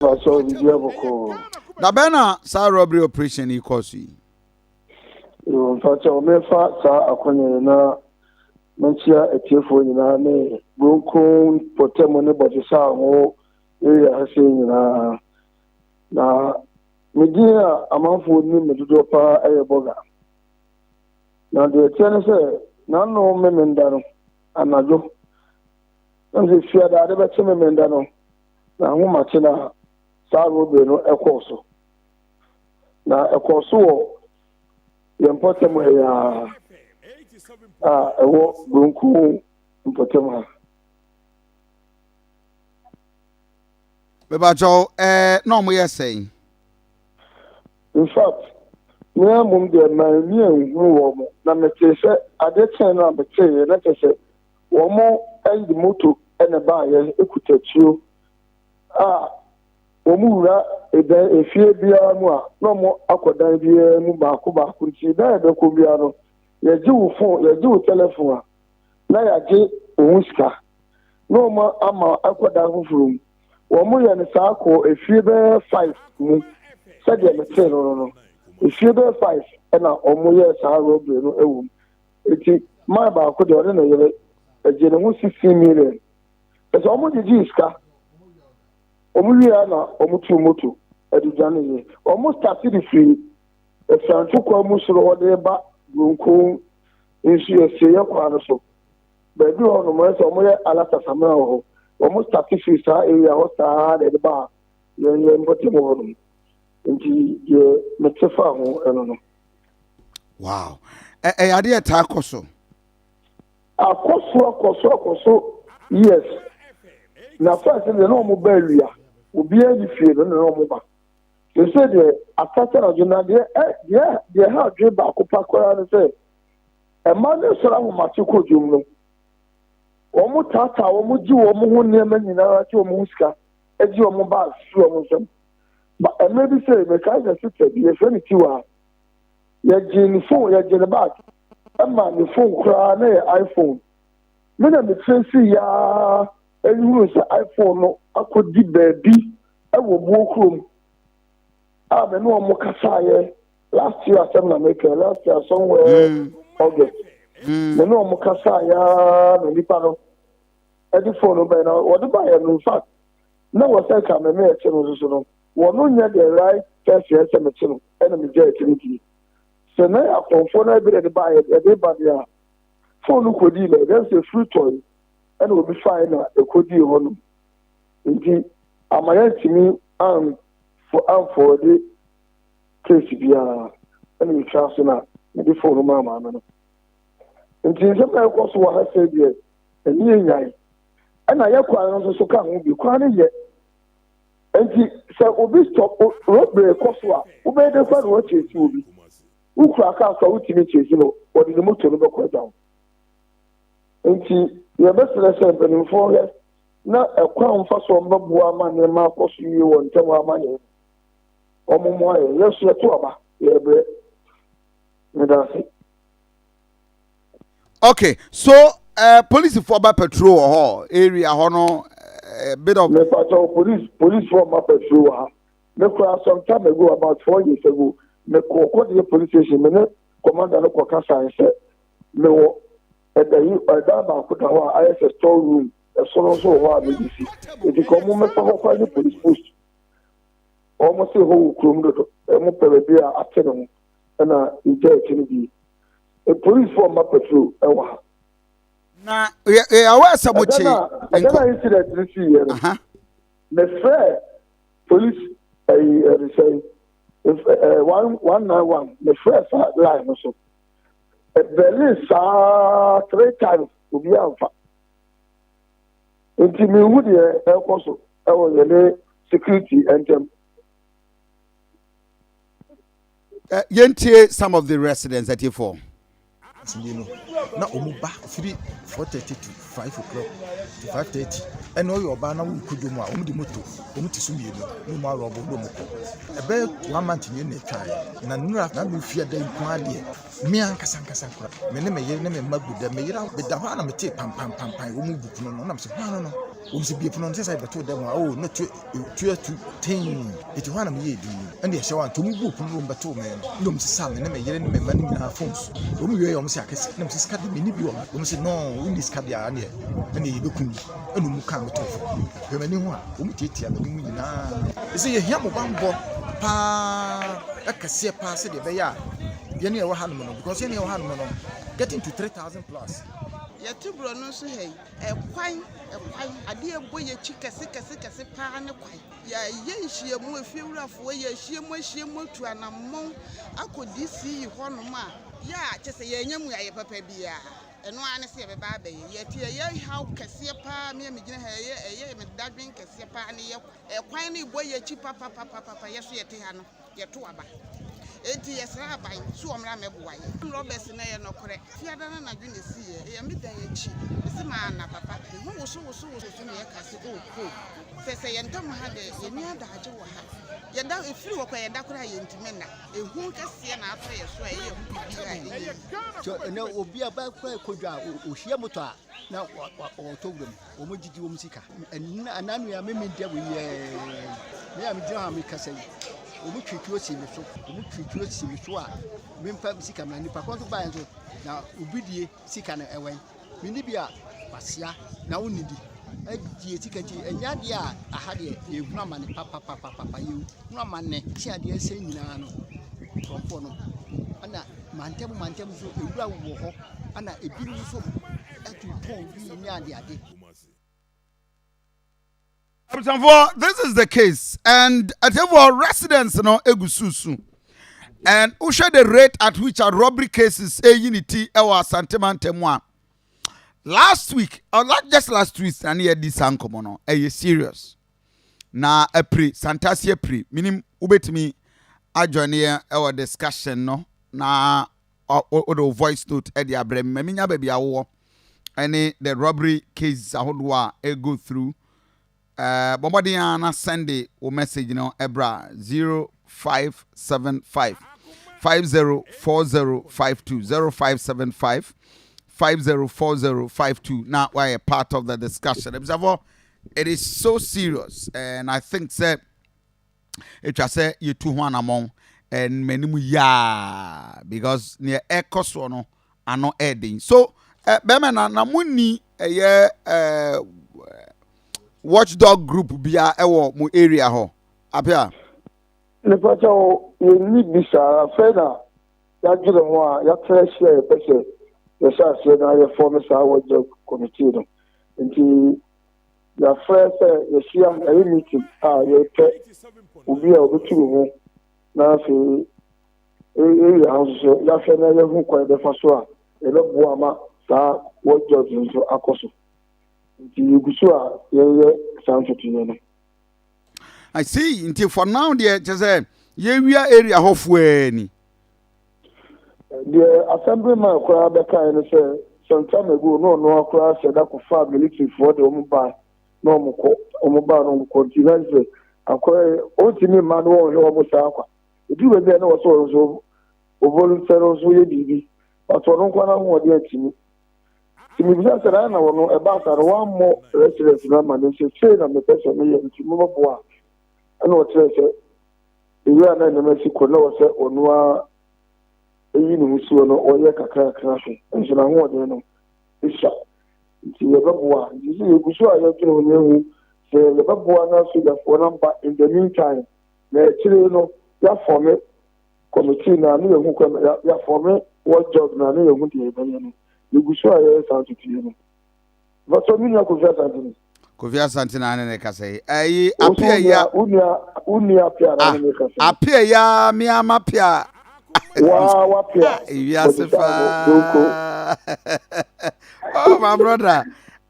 Pastor Obibi Aboko. Da bɛn na saa robbery operation yi kɔɔ so yi? Yoo, mpakyɛ wɔmɛfa saa akwanya yi na menkyia atiefoɔ nyinaa ne Buronkron Pɔtamu ne Bɔgyesa ho area ha sei nyinaa. Na me din a amanfoɔ nim me dodoɔ paa ɛyɛ Bɔga. Na deɛ ɛteɛ ne sɛ n'ano memenda no anadwo. Na sɛ fiadaade bɛkye memenda no Na ahomakye no a saa robbery no kɔɔ so. Na ɛkɔɔ so wɔ yɛn mpɔtam ha yi ara a ɛwɔ Buronku mpɔtam ha. Mebakyɛw, ɛɛ na wɔyɛ sɛn? In fact, me ara mmom deɛ manni anhunu wɔn na metee sɛ adeɛ kyɛn no a metee yɛ na kyerɛ sɛ Wɔde moto na ɛbaeɛ, ɛkuta tuo a wɔwura dan, efie biara mu a na wɔakɔ dan biara mu baako baako nti dan a ɛbɛkɔ biara no, yɛgye wo fon, yɛgye wo tɛlɛfon a, na yɛagye wo ho sika na wɔn ama akɔ dan foforɔ mu. Wɔyɛ no saa kɔɔ efie bɛyɛ five mu sɛdeɛ metee no no no, efie bɛyɛ five na wɔyɛɛ saa robbery no wɔ mu. Enti maa baako deɛ ɔne ne yere ɛgye ne ho sixteen million. Ɛsɛ wɔn gyegye sika. Wɔn wie a na wɔn tu moto ɛde dwane yie. Wɔn start de firi Ɛfianto kwan mu soro hɔ de ba Bronco nsu asieyɛ kwan no so. Baabi hɔ nom ɛsɛ wɔn yɛ alata samina wɔ hɔ. Wɔn start firi saa area hɔ saa na ɛde ba yɛn yɛn mpɔtam hɔ nom. Nti yɛ mete fa ho ɛno no. wow ɛyɛ ade yɛ taa kɔ so. akɔ so akɔ so akɔ so yes na first deɛ na wɔn ba awia obiara ni fie no na wɔn ba sese deɛ asase anadwo na deɛ ɛ deɛ deɛ ha adwe baako pa koraa no sɛ ɛma ne soro ahomakye kɔ dwom no wɔn taataa wɔn gye wɔn ho nneɛma nyinaa gye wɔn ho sika gye wɔn bags si wɔn nsam. Ba mmerɛ bi sei, mekae sɛ sista bi, yɛfrɛ no Tiwa, yɛgyee ne fon, yɛgyee ne bag, ɛma ne fon koraa na yɛ iPhone. Me na metresi yaa ɛnhunu sɛ iPhone no akɔdi baabi ɛwɔ buo kurom a me ne wɔn kasaeɛ last year asɛm na mekɛ last year somewhere mm. August mm. me ne wɔn kasaeɛ na nipa no ɛde fon no bɛyɛ na wɔde baeɛ no in fact na wɔ sɛ nka me me te no nso so no wɔ no nyɛ the right person sɛ me te no ɛna me gya ɛte no die sɛ na yɛ akɔnfoɔ na ɛbɛrɛ de ba yɛ de ba deɛ a phone no kɔdii na ɛdɛm sɛ free toy ɛna obi fae na ɛkɔdii hɔ no nti ama yɛ ntumi an for amfɔɔ de case biara ɛna me twa so na me de phone no maa maame no nti nsɛm na ɛkɔ so wɔ ha sɛ deɛ ɛne yɛ nyae ɛna yɛ kwan no nso so ka ho bi kwan no yɛ nti sɛ obi stop robere kɔ so a wobɛyɛ dɛ kwan no akyesi obi wokura kaa so a wotumi kyesi no wɔde ne moto no bɛkɔ agya wo nti yɛbɛsrɛ sɛ mpanimfoɔ hwɛ na ɛkwan mfa so ɔmbɛboa ama nneɛma akɔ so yie wɔ ntɛm ama yɛn wɔn mmoa yɛn yɛn so yɛto aba yɛbrɛ medase. okay so uh, police for ba patrol wɔ hɔ area hɔ no uh, bit of. mepatɔ police police for ma patrol wɔ ha me kura some time ago about four years ago me kɔ kɔdeɛ police station me ne commander no kɔ kasa nsɛ me wɔ ɛdayi ɛdan baako da hɔ a ayɛ sɛ store room ɛsono nso wɔ hɔ a mede si eti kɔ mo mɛfa hɔ kwan ne police post wɔn se hɔ wɔ kurom dodo ɛmo pɛ baabi a ate ne ho. na ɛtwa akyi no bi. Polisfoɔ mma patrol wɔ ha. Na yɛyɛwɔ sɛ mo kye. Ɛda na incident no sii yɛ no. Mefrɛ police ɛyi ɛde sɛ one one nine one mefrɛ sa line no so. Ɛbɛli saa three times obi anfa. Nti mi hu deɛ ɛkɔ so ɛwɔ yɛne security ɛntɛm. eh, yɛntie some of the residents atiefoɔ tumi no na wɔn ba firi four thirty to five o'clock to five thirty ɛna ɔyɛ ɔbaa na wɔn kɔ dwom a wɔn de moto wɔn ti so mmienu na wɔn arɔ wɔn dɔm kɔ ɛbɛyɛ one month nyɛ na atwa yɛ na nura na mi fia da nko adeɛ mi ankasa ankasa kora mi ne mi yere ne mi mma gu dɛ mi yere mi da hɔ a na mi te pampampampam wɔn bu pono no na mi sɛ hɔn no no. Wɔsi bie pono no sɛ sɛ yɛbɛto dɛm a o na tu tu atu tee eti hɔ a na meyɛ edi ɛna ɛhyɛ wa nti wɔn bu pono no wɔn bɛto me no na wɔn sisa me ne me yere ne me mma no nyinaa fon so wɔn wie yɛ wɔn sɛ akɛse na wɔn sɛ sika de mini bi wɔ me wɔn sɛ nɔɔ wɔn ni sika de a neɛ ɛna yɛ bɛku mi ɛna wɔn kaa me to fo hwɛ m'ani ho a wɔn tietia me mu nyinaa ɛsɛ yɛ hia mo bammɔ paa ɛkɛseɛ paa sɛdeɛ ɛbɛyɛ a yɛne ɛwɔ ha nom no because yɛne ɛwɔ ha nom no getting to three thousand plus yɛte borɔ no nso ha yi Kwan, kwan, adeɛ a ɛbɔ yɛn akyi kɛse kɛse kɛse pa ara ne kwan. Yɛyɛ nhyiamu, efiewurafoɔ, yɛahyiam ahyiam atu anammɔn akɔ DCE hɔnom a, yɛ a kyerɛ sɛ yɛannya mmuaeɛ papa biara, ɛno ara ne sɛ yɛbɛba abɛyɛ. Yɛte ɛyɛ haw kɛseɛ pa ara, me a megyina ha yi, ɛyɛ ɛyɛ me dadwen kɛseɛ pa ara ne yɛ kwan. Kwan no rebɔ yɛn akyi papapapapapa, yɛn nso yɛte ha no. yɛtow aba. Enti yɛsrɛ aban sɛ wɔmmra mmɛboa yɛn. Ɔn Roberts no yɛ nɔkorɛ. Fiada no anadwo na esiiɛ. Ɛyɛ me dan akyi. Mese maa na papa. Me ho wosowosowoso so na yɛka sɛ oh Cole, hwɛ sɛ yɛn ntam ha dɛ yɛnni adagye wɔ ha. Yɛda, efiri hɔ koraa yɛda koraa a yɛntumi nna. Ehu kɛseɛ na atɔ yɛn so a ɛyɛ ɛho biribiara a ɛnyɛ yie. Sɛ ɛnnɛ obi a bɛkɔ akodwa a, ohia motor a, na wɔtɔ wura mu wɔn gyigye wɔn sika ɛnna nua me me dɛ wɔyɛ me a megyina hɔ a mekasa yi wɔn twitwi si me so wɔn twitwi si me so a memfa sika mena nipa kɔn so baeɛ nso na obi die sika no ɛwɛn menni bi a wasea na wonni bi adie sika nti ɛnyɛ adeɛ a aha deɛ yɛhunu amane papapapapa yɛhunu amane kye adeɛ sɛ nyinaa no nkurɔfoɔ no ɛna mantam mantam so ewura wɔ hɔ ɛna ebinom nso tu pɔn bi ne adeade. abusuafoɔ this is the case and atiefoɔ residents no egu susu and wohwɛ the rate at which a robbery cases eyi ne ti ɛwɔ asante mantam a last week or uh, last just last week na ne yɛ di saa nkɔmɔ no ɛyɛ serious na apiri santase apiri minim wobɛtumi adwane yɛn ɛwɔ discussion no na wode wo voice note de abrɛ me ma menya baabi a wowɔ ne the robbery cases ahodoɔ a ɛ go through ɛɛ bɔ mmɔden ara na sɛnde wo message no ɛbrɛ a zero five seven five five zero four zero five two zero five seven five five zero four zero five two na wayɛ part of the discussion ebisafoɔ it is so serious and I think sɛ. etwa sɛ yetu ho anammɔn mmɛnemu yaa because neɛ ɛkɔ soɔ no ano ɛɛden so eh, bɛrima na na mo ni ɛyɛ eh, watchdog group bia ɛwɔ mo area hɔ apia. nipa sɛ o yɛnni bi saa afei na yɛadwene ho a yɛatena ase a yɛpɛ sɛ yɛhyɛ aseɛ na yɛfɔm saa wɔgya kɔmitii no nti Yɛafrɛ sɛ yɛahyia ɛyɛ meeting a yɛpɛ obi a ɔbɛtu ne ho na afei area ha nso so yɛahwɛ na yɛahu kwan bɛfa so a yɛbɛboa ma saa wɔ George nso akɔ so. Nti yɛgu so a yɛyɛ saa ntotoyɛ no. I see, nti for now deɛ kyɛ sɛ yɛwia area hɔ foɛɛ ni. Deɛ Asɛmberema koraa bɛkae ne sɛ, Santana gu hɔ na ɔno ara koraa sɛ da kɔfaa militifoɔ de wɔn baa na wɔn kɔ, wɔn baa na wɔn kɔ nti na sɛ akɔyɛ ɔntumi mma no wɔnhwɛ wɔn saa kwa. Ɛduru baabi a na wɔsɛ ɔno nso ɔvoluntɛre ɔno nso yɛ biribi but ɔno nko ara n'ahoɔden antumi. Nti mebisa sɛ na na ɔno ɛbaa saa no wammɔ restaurant no ama no sɛ sei na mepɛ sɛ meyɛ nti mobɛboa a ɛna ɔkyerɛ sɛ Ewura a na nneɛma si kɔ na ɔwɔ sɛ ɔno ara eyi ne ho si hɔ no, ɔyɛ kakrakra hwɛ, nso n'ahoɔden no sua. Nti yɛbɛboa. Nti sɛ yɛgu so a yɛdwene ho na yɛhu sɛ yɛbɛboa na sogyafoɔ no aba in the meantime, na akyire no yɛafɔme kɔmitii no a na yɛhu kwan, yɛafɔme watchdog no a na yɛhu deɛ yɛbɛyɛ no. Yɛgu so a yɛyɛ saa nso tue no, Bàtɔ mi nua Kofi Asante ni. Kofi Asante na ne ne kasa yi. Ayi apia ya. Unia unia apia na ne ne kasa. Ah, apia ya mi ama apia. Wa wa apia. Ewi asefa. Oh my brother.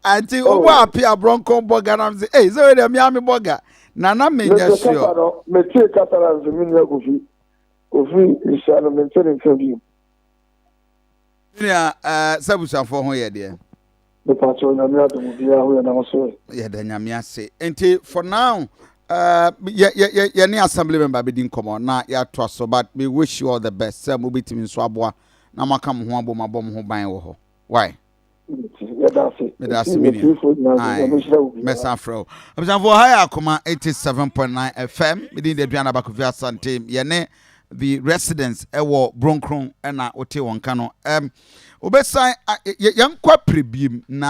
Anti oh. obo apia bronco boga na mzi. Eh, so de mi ami boga. Na na me nya sure. Me tie kasa na mzi mi nua Kofi. Kofi nhyia no me ntene nka bi. Me nua eh sɛ abusuafoɔ ho yɛ deɛ? Me pa kyɛw nyame adom obiaa ho yɛ na wo nso ɛ? Yɛda nyame ase nti for now eh yɛ yɛ yɛ yɛne assembly member bɛdi nkɔmmɔ na yɛatoa so but me wish you all the best sɛ mobɛtumi nso aboa na moaka mo ho abom abɔ mo ho ban wɔ hɔ wai? Yɛda ase Meda ase ɛti me nua atiifoɔ nyinaa so Ae nyame nhyira wo biaa. mɛsan frɛ wo abusuafoɔ ha yɛ akoma 87.9 fm medin de aduana bakofi asante yɛne the residents wɔ Bronkron na wotee wɔn nka no. Um, wobɛsan, yɛnkɔ apere biem na